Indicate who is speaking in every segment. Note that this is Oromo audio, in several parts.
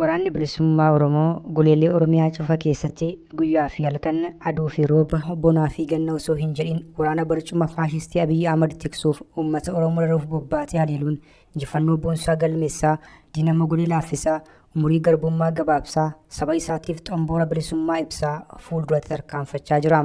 Speaker 1: Waraanni Bilisummaa Oromoo goleelee Oromiyaa cufa keessatti guyyaa fi halkan, aduu fi rooba, bonaa fi ganna osoo hin jedhin waraana barcuma faashistii Abiy Ahmad tiksuuf uummata Oromoo raruuf bobbaatee haleeluun injifannoo boonsaa galmeessaa, diina mogolee laaffisaa, umurii garbummaa gabaabsaa, saba isaatiif xomboora bilisummaa ibsaa fuulduratti tarkaanfachaa jira.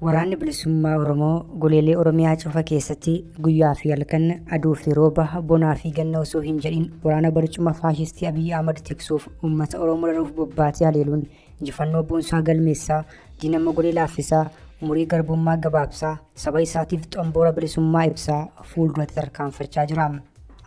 Speaker 1: Waraanni Bilisummaa Oromoo goleelee Oromiyaa cufa keessatti guyyaa fi halkan aduu fi rooba bonaa fi ganna osoo hin jedhin waraana barcuma faashistii Abiyyi Ahmad tiksuuf uummata Oromoo loluuf bobbaatee haleeluun injifannoo boonsaa galmeessaa diinammoo godhee laaffisaa umurii garbummaa gabaabsaa saba isaatiif xomboora bilisummaa ibsaa fuulduratti tarkaanfachaa jira.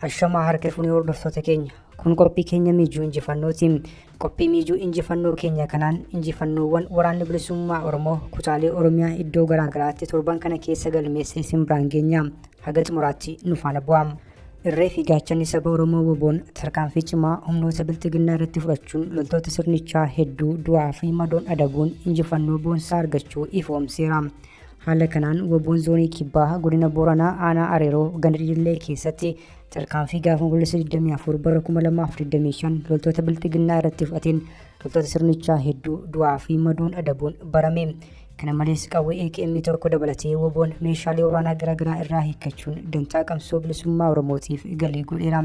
Speaker 1: Ashamaa harka fuunee hordoftoota keenya kun qophii keenya miijuu injifannootiin Qophii miijuu injifannoo keenya kanaan injifannoowwan waraanni bilisummaa Oromoo kutaalee Oromiyaa iddoo garaagaraatti torban kana keessa galmeessee isin biraan geenya. Haga xumuraatti nu faana bu'aa. Irree fi gaachanni saba Oromoo woboon tarkaanfii cimaa humnoota bilxiginnaa irratti fudhachuun loltoota sirnichaa hedduu du'aa fi madoon adabuun injifannoo boonsaa argachuu ifoomseera. Haala kanaan woboon zoonii kibbaa godina Booranaa aanaa Areeroo ganda Didillee keessatti Tarkaanfii gaafa Onkoloolessa 24 bara 2025 loltoota bilxiginnaa irratti fudhateen loltoota sirnichaa hedduu du'aa fi madoon adabuun barame. Kana malees qawwee AKM tokko dabalatee woboon meeshaalee waraanaa garaagaraa irraa hiikkachuun dantaa qabsoo bilisummaa Oromootiif galii godheera.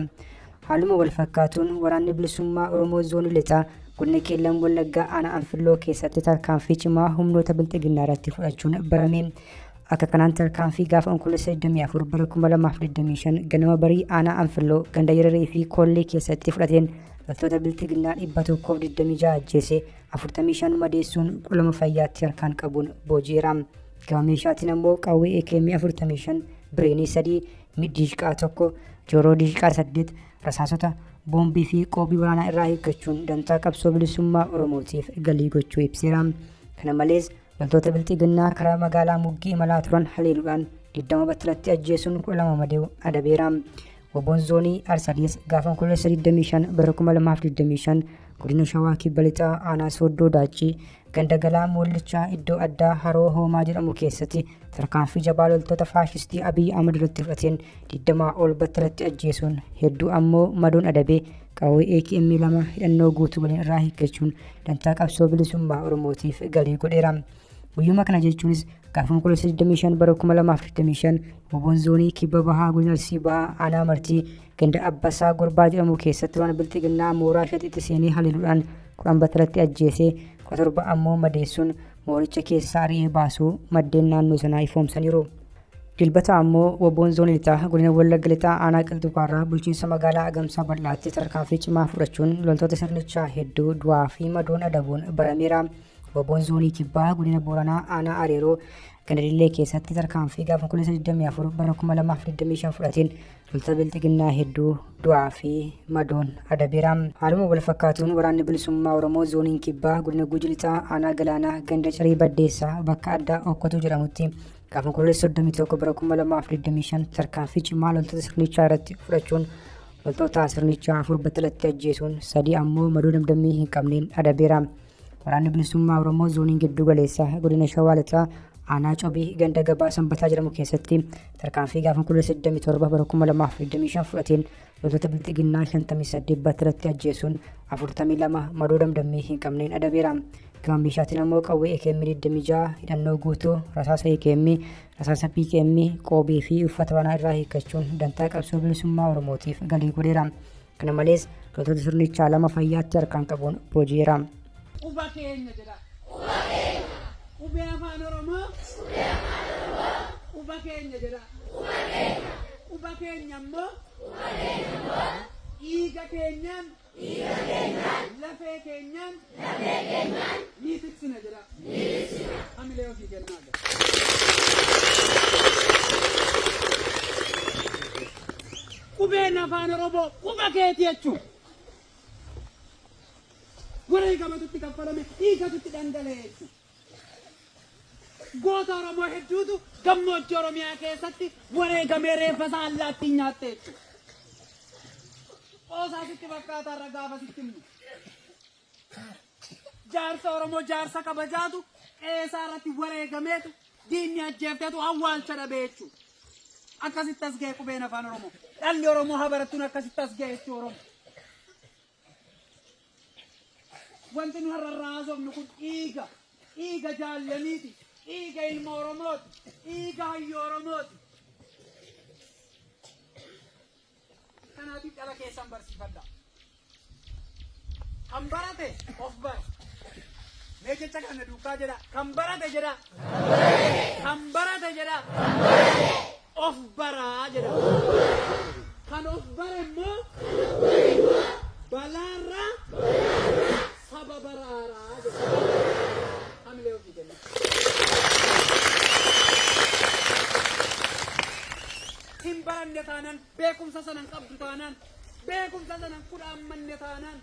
Speaker 1: Haaluma wal fakkaatuun waraanni bilisummaa Oromoo zoonii lixaa godina Qeellam Wallaggaa aanaa Anfilloo keessatti tarkaanfii cimaa humnoota bilxiginnaa irratti fudhachuun barame. Akka kanaan tarkaanfii gaafa Onkoloolessa 24 bara 2025 ganama barii aanaa Anfilloo ganda Yararii fi Koollee keessatti fudhateen loltoota biltiginnaa 126 ajjeese 45 madeessuun qolama fayyaatti harkaan qabuun booji'eera. Gama meeshaatiin ammoo qawwee AKM 45, bireenii 3, middiishqaa 1, jooroo diishqaa 8, rasaasota, boombii fi qoobii waraanaa irraa eeggachuun dantaa qabsoo bilisummaa Oromootiif galii gochuu ibseera. Kana malees Loltoota Bilxiginnaa karaa magaalaa Muggii imalaa turan haleeluudhaan 20 battalatti ajjeesuun 12 madeewu adabeera. Woboon zoonii Arsadiis gaafa Onkoloolessa 25 bara 2025 godina Shawaa Kibba Lixaa aanaa Sooddoo Daachii ganda galaa Moollichaa iddoo addaa Haroo Hoomaa jedhamu keessatti tarkaanfii jabaa loltoota faashistii Abiy Ahmad irratti fudhateen 20 ol battalatti ajjeesuun hedduu ammoo madoon adabee Qawwee AKM lama hidhannoo guutuu waliin irraa hiikkachuun dantaa qabsoo bilisummaa Oromootiif galii godheera. Guyyuma kana jechuunis gaafa Onkoloolessa 25 bara 2025 Oboon Zoonii Kibba Bahaa Godina Arsii Bahaa Aanaa Martii ganda Abbasaa Gorbaa jedhamu keessatti waan bilxiginnaa mooraa shaxitti seenee haleeluudhaan 10 battalatti ajjeesee 17 ammoo madeessuun mooricha keessaa ari'ee baasuu maddeen naannoo sanaa ifoomsaniiru. Dilbata ammoo WBO'n Zoonii Lixaa godina Wallagga Lixaa aanaa Qilxuu Kaarraa bulchiinsa magaalaa Agamsaa bal'aatti tarkaanfii cimaa fudhachuun loltoota sirnichaa hedduu du'aa fi madoon adabuun barameera. WBO'n Zoonii Kibbaa godina Booranaa aanaa Areeroo Gandadillee keessatti tarkaanfii gaafa 24 bara 2025 fudhateen loltoota bilxiginnaa hedduu du'aa fi madoon adabeera. Haaluma wal fakkaatuun waraanni bilisummaa Oromoo zooniin kibbaa godina Guji Lixaa aanaa Galaanaa ganda Cirii Baddeessaa bakka addaa Okkotuu jedhamutti Gaafa Onkololeessa 31 bara 2025 tarkaanfii cimaa loltoota sirnichaa irratti fudhachuun loltoota sirnichaa afur battalatti ajjeesuun sadii ammoo madoo damdammii hin qabneen adabeera. Waraanni bilisummaa Oromoo zooniin gidduu galeessa godina Shawaa Lixaa aanaa Cobii ganda gabaa sanbataa jedhamu keessatti tarkaanfii gaafa Onkololeessa 27 bara 2025 fudhateen Loltoota Bilxiginnaa 58 battalatti ajjeesuun 42 madoo damdammii hin qabneen adabeera. Gama meeshaatiin ammoo qawwee AKM 26, hidhannoo guutuu, rasaasa AKM, rasaasa PKM, qoobii fi uffata waraanaa irraa hiikkachuun dantaa qabsoo bilisummaa Oromootiif galii godheera. Kana malees loltoota sirnichaa lama fayyaatti harkaan qabuun booji'eera. quba keenya
Speaker 2: jedha. Quba keenya. Qubee Afaan Oromoo. Qubee Afaan Oromoo. Quba keenya jedhaa. Quba keenya. Quba keenya immoo. Quba keenya immoo. Dhiiga keenyaan. Dhiiga keenyaan. Lafee keenyaan. Lafee keenyaan. Ni tiksina jedhaa. Ni tiksina. Hamilee ofii kennaa jedha. Qubeen Afaan Oromoo quba keeti jechuudha. wareegamatu itti kaffalame, dhiigatu itti dhangala'e jechuudha. Goota Oromoo hedduutu gammoojjii Oromiyaa keessatti wareegamee reeffa isaa allaattiin nyaatte jechuudha. Qoosaa sitti fakkaataa irra gaafa sitti himu. Jaarsa Oromoo jaarsa kabajaatu qeesaa irratti wareegameetu diinni ajjeefteetu awwaalcha dhabe jechuudha. Akkasitti as ga'e qubeen afaan Oromoo. Dhalli Oromoo habarattuun akkasitti as ga'e jechuudha Oromoo. Wanti nu har'a irraa haasofnu kun dhiiga, dhiiga jaallaniiti, dhiiga ilma Oromooti, dhiiga hayyu Oromooti. Kanaatiif dhala keessan barsiifadha. Kan barate of bara. Mee jecha kana duukaa jedha. Kan barate jedha. Kan barate jedha. of bara jedhama. Kan of bare immoo balaarraa saba baraaraa jedhama. Hamilee ofii kenna. Hin baranne taanaan beekumsa sana hin qabdu taanaan beekumsa sana hin kudhaammanne taanaan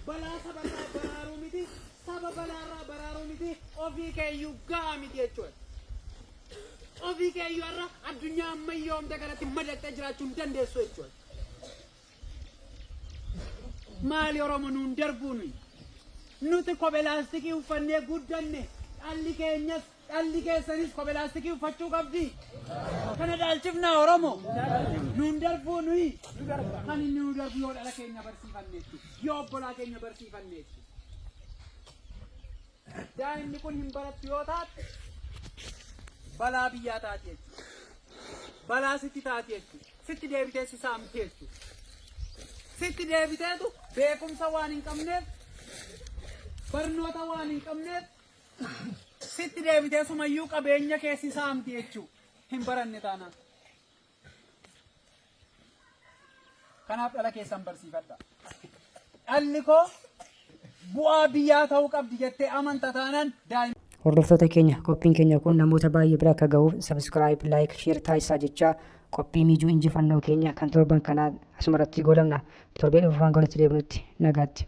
Speaker 2: Balaa saba irraa baraaruu miti, saba balaa irraa baraaruu miti, ofii keeyyuu ga'a miti jechuudha. Ofii keeyyuu har'a addunyaa ammayyoomte kanatti madaqxee jiraachuu hin dandeessu jechuudha. Maali Oromo nuun darbuu nuyi? Nuti kophee laastikii uffannee guddanne dhalli keenyas Dhalli keessanis kophee laastikii uffachuu qabdi. Kana dhaalchifnaa Oromo. Nuun darbuu nuyi. Kan inni nu darbu yoo dhala keenya barsiifanneetti. Yoo obbolaa keenya barsiifanneetti. Daa'imni kun hin barattu yoo taate balaa biyyaa taati jechuudha. Balaa sitti taati jechuudha. Sitti deebitee si saamti jechuudha. Sitti deebiteetu beekumsa waan hin qabneef barnoota waan hin qabneef Sitti deebitee sumayyuu qabeenya kee si saamti jechuu hin baranne taanaan. Kanaaf dhala keessan barsiifadha. Dhalli koo bu'aa biyyaa ta'uu qabdi jettee amanta taanaan daa'ima. Hordoftoota keenya
Speaker 1: qophiin keenya kun namoota baay'ee bira akka gahuuf sabiskiraayib, laayik, sheer taasisaa jechaa qophii miijuu injifannoo keenya kan torban kanaa asumarratti goolabna. Torbee dhufu waan goolitti deebinutti nagaatti.